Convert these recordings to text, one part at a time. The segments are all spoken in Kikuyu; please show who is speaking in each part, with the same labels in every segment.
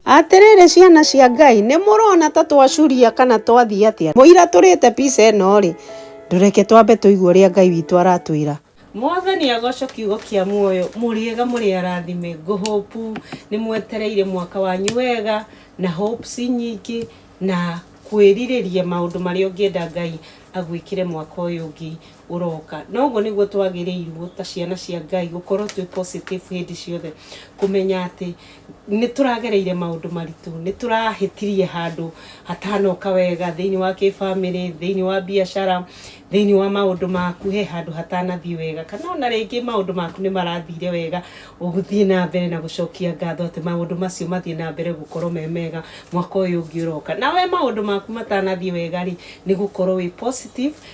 Speaker 1: Atĩrĩrĩ ciana cia Ngai, nĩ mũrona ta twacuria kana twathiĩ atĩa? Mũira tũrĩte pica ĩno-rĩ, ndũreke twambe tũigue ũrĩa Ngai witũ aratwĩra. Mwathani agoco kiugo kia muoyo muriega muri arathime ngo hope nimwetereire mwaka wanyu wega na hopes nyingi na kwiririria maundu maria ungienda ngai agwikire mwaka uyu ungi ũroka na ũguo nĩguo twagĩrĩirwo ta ciana cia ngai gũkorwo twĩ positive hĩndĩ ciothe kũmenya atĩ nĩ tũragereire maũndũ maritũ nĩ tũrahĩtirie handũ hatanoka wega thĩinĩ wa kĩbamĩrĩ thĩinĩ wa biacara thĩinĩ wa maũndũ maku he handũ hatanathiĩ wega kana ona rĩngĩ maũndũ maku nĩ marathire wega ũgũthiĩ na mbere na gũcokia ngatho atĩ maũndũ macio mathiĩ na mbere gũkorwo me mega mwaka ũyũ ũngĩ ũroka na we maũndũ maku matanathiĩ wega rĩ nĩ gũkorwo wĩ positive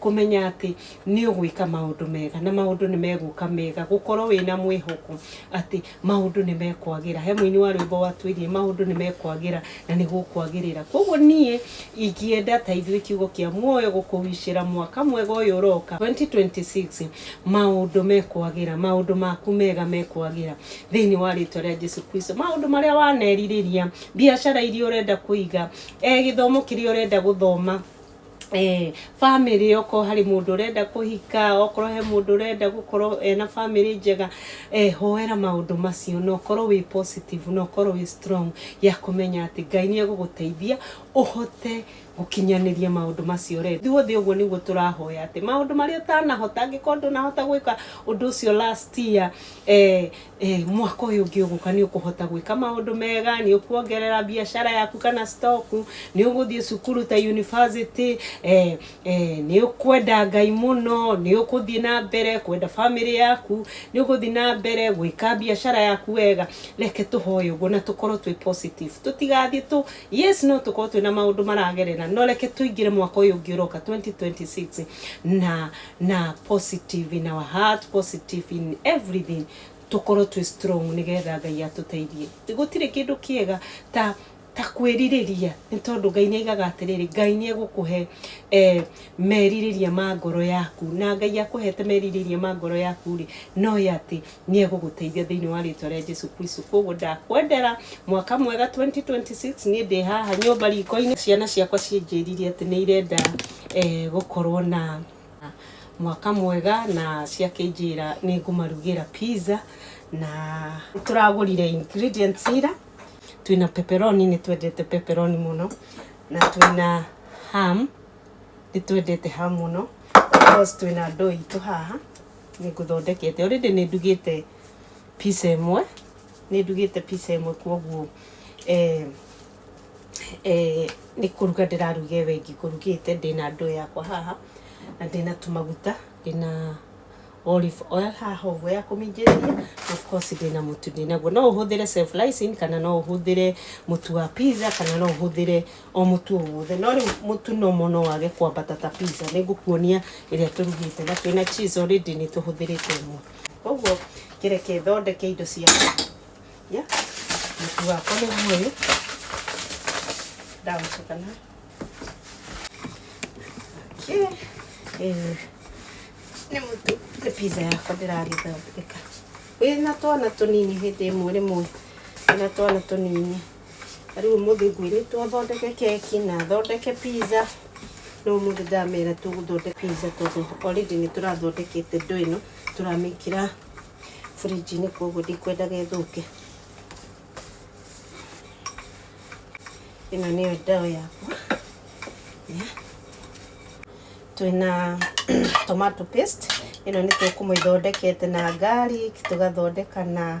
Speaker 1: Kũmenya atĩ nĩ ũgwĩka maũndũ mega na maũndũ nĩ megũka mega. Gũkorwo wĩ na mwĩhoko atĩ maũndũ nĩ mekwagĩra. He mũini wa rwĩmbo watwĩrire maũndũ nĩ mekwagĩra na nĩ gũkwagĩrĩra. Kwoguo niĩ ingĩenda ta ithuĩ kiugo kĩa muoyo gũkũwicĩra mwaka mwega ũyũ ũroka, 2026, maũndũ mekwagĩra, maũndũ maku mega mekwagĩra thĩinĩ wa rĩtwa rĩa Jesu Kristo. Maũndũ marĩa wanerirĩria, biacara iria ũrenda kũiga, gĩthomo kĩrĩa ũrenda gũthoma, eh, family okorwo harĩ mũndũ ũrenda kũhika okorwo he mũndũ ũrenda gũkorwo ena family njega eh, hoera maũndũ macio na ũkorwo wĩ positive na ũkorwo wĩ strong ya kũmenya atĩ ngai nĩ egũgũteithia ũhote gũkinyanĩria maũndũ macio rĩ ithuothe ũguo nĩguo tũrahoya atĩ maũndũ marĩa ũtanahota angĩkorwo ndũnahota gwĩka ũndũ ũcio last year eh, Eh, mwaka ũyũ ũngĩ ũgũka nĩ ũkũhota gwĩka maũndũ mega nĩ ũkuongerera biacara yaku kana stock nĩ ũgũthiĩ cukuru ta university eh, eh, nĩ ũkwenda ngai mũno nĩ ũkũthiĩ na mbere kwenda family yaku nĩ ũgũthiĩ na mbere gwĩka biacara yaku wega reke tũhoe ũguo na tũkorwo twĩ positive tũtigathiĩ tũ yes no tũkorwo twĩ na maũndũ maragerera no reke tũingĩre mwaka ũyũ ũngĩ ũroka 2026 na na positive in our heart positive in everything tukorwo twĩ strong nigetha ngai atũteithie gũtirĩ kĩndũ kĩega ta ta kwĩrirĩria nĩ tondũ ngai nĩ aigaga atĩrĩrĩ ngai nĩ egũkũhe eh, merirĩria ma ngoro yaku na ngai akũhete merirĩria ma ngoro yaku rĩ no ĩ atĩ Nĩ egũgũteithia thĩinĩ wa rĩtwa rĩa Jesu Kristo. Kwoguo ndakwendera mwaka mwega 2026. Niĩ ndĩ haha nyũmba riko-inĩ. Ciana ciakwa ciĩnjĩririe atĩ nĩ irenda eh, gũkorwo na mwaka mwega na ciakĩnjĩra nĩ ngũmarugĩra pizza na tũragũrire ingredients ira twĩna pepperoni nĩ twendete pepperoni mũno na twĩna ham nĩ twendete ham mũno because twĩna ndoo itũ haha Nĩ ngũthondekete, already nĩ ndugĩte pizza ĩmwe, nĩ ndugĩte pizza ĩmwe kwoguo eh, eh, nĩ kũruga ndĩraruga ĩyo ĩngĩ ngũrugĩte ndĩna ndoo yakwa haha na ndĩna tũmaguta ndĩna olive oil haha ũguo ya kũminjĩria of course ndĩna mũtu ndĩnaguo no ũhũthĩre self rising kana no ũhũthĩre mũtu wa pizza kana no ũhũthĩre o mũtu o wothe no rĩu mũtu no mo no wage kwambata ta pizza nĩ ngũkuonia ĩrĩa tũrugĩte na twĩna cheese already nĩ tũhũthĩrĩte ĩmwe koguo kĩreke thondeke indo ciakwa ya mũtu wakwa nĩ guoyũ ndagũtukana Okay. Eh, nĩ mũtu nĩ pizza yakwa ndĩragĩthondeka wĩna twana tũnini hĩndĩ ĩmwe rĩmwe wĩna twana tũnini ta rĩu ũmũthĩ ngwĩrĩtwo twathondeke keki na thondeke pizza no ũmũthĩ ndamera tũgũthondeka pizza tondũ already nĩ tũrathondekete ndo ĩno tũramĩkĩra fridge-inĩ koguo ndikwenda gethũke ĩno nĩyo ndawa yakwa Yeah. twĩna tomato paste ĩno nĩ tũkũmĩthondekete na garlic tũgathondeka na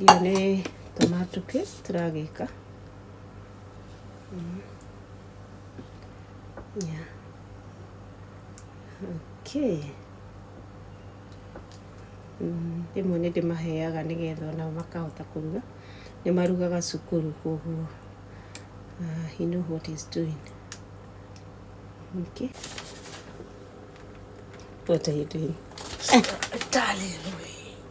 Speaker 1: Iria nĩ tũmatuki tũragĩka mm. yeah. okay. Mm, rĩmwe nĩ ndĩmaheaga nĩgetha onao makahota kũruga nĩ marugaga cukuru koguo uh, he know what he's doing okay. what are you doing
Speaker 2: darling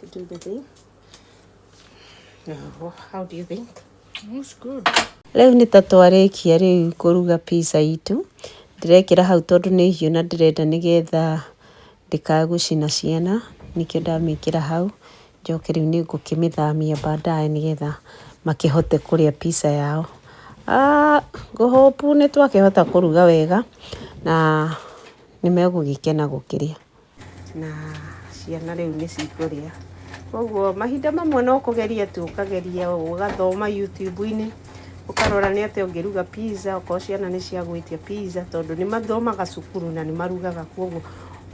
Speaker 1: to do the thing. Oh, how do
Speaker 2: you think? Looks good. Rĩu nĩ ta
Speaker 1: twarĩkia rĩu kũruga pizza itũ. Ndĩrekĩra hau tondũ nĩ hiũ na ndĩrenda nĩgetha ndĩkagũcina ciana, nĩkĩo ndamĩkĩra hau. Njoke rĩu nĩ ngũkĩmĩthamia baadaye nĩgetha makĩhote kũrĩa pizza yao. Ah, ngũhũpu nĩ twakĩhota kũruga wega na nĩ megũgĩkena gũkĩrĩa. Na ciana rĩu nĩ cikũrĩa. Koguo mahinda mamwe no kũgeria tu ũkageria ũgathoma YouTube-inĩ ũkarora nĩ atĩa ũngĩruga pizza okorwo ciana nĩ cia gwĩtia pizza tondũ nĩ mathomaga cukuru na nĩ marugaga koguo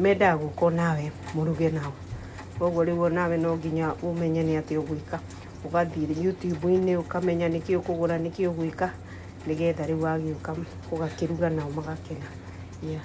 Speaker 1: mendaga gũka nawe mũruge nao. Koguo rĩu onawe no nginya ũmenye nĩ atĩa ũgwĩka. Ũgathiĩ YouTube-inĩ ũkamenya nĩkĩ ũkũgũra nĩkĩ ũgwĩka nĩgetha rĩu wagĩũka ũgakĩruga nao magakena. Yeah.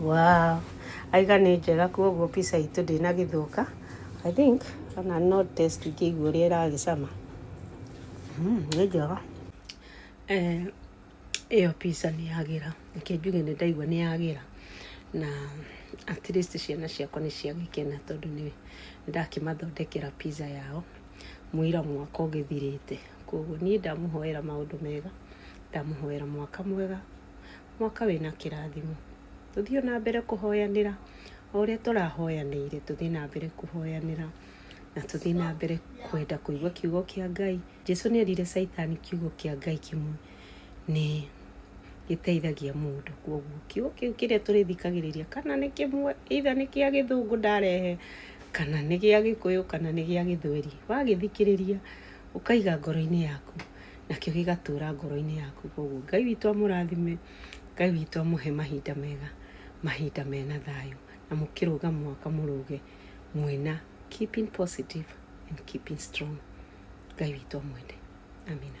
Speaker 3: wow
Speaker 1: aiga nĩ njega koguo pizza itũ ndĩna gĩthũka i think kana no test ngĩigua ũrĩa ĩragĩcama Mm, nĩ njega Eh, ĩyo pizza nĩ yagĩra reke njuge nĩ ndaigua nĩ yagĩra na at least ciana ciakwa nĩ ciagĩkena tondũ nĩ ndakĩmathondekera pizza yao mũira mwaka ũgĩthirĩte koguo niĩ ndamũhoera maũndũ mega Ndamũhoera mwaka mwega, mwaka wĩna kĩrathimo. Tũthiĩ ona mbere kũhoyanĩra, o ũrĩa tũrahoyanĩire, tũthiĩ na mbere kũhoyanĩra, na tũthiĩ na mbere kwenda kũigua kiugo kĩa Ngai. Jesu nĩ erire Caitani kiugo kĩa Ngai kĩmwe nĩ gĩteithagia mũndũ. Koguo kiugo kĩu kĩrĩa tũrĩthikagĩrĩria kana nĩ kĩmwe, either nĩ kĩa gĩthũngũ ndarehe, kana nĩ gĩa gĩkũyũ, kana nĩ gĩa gĩthweri, wagĩthikĩrĩria ũkaiga ngoro-inĩ yaku. nakĩo gĩgatũũra ngoro-inĩ yaku koguo ngai witũ amũrathime ngai witũ amũhe mahinda mega mahinda mena thayũ na mũkĩrũga mwaka mũrũge mwĩna keeping positive and keeping strong ngai witũ amwende amina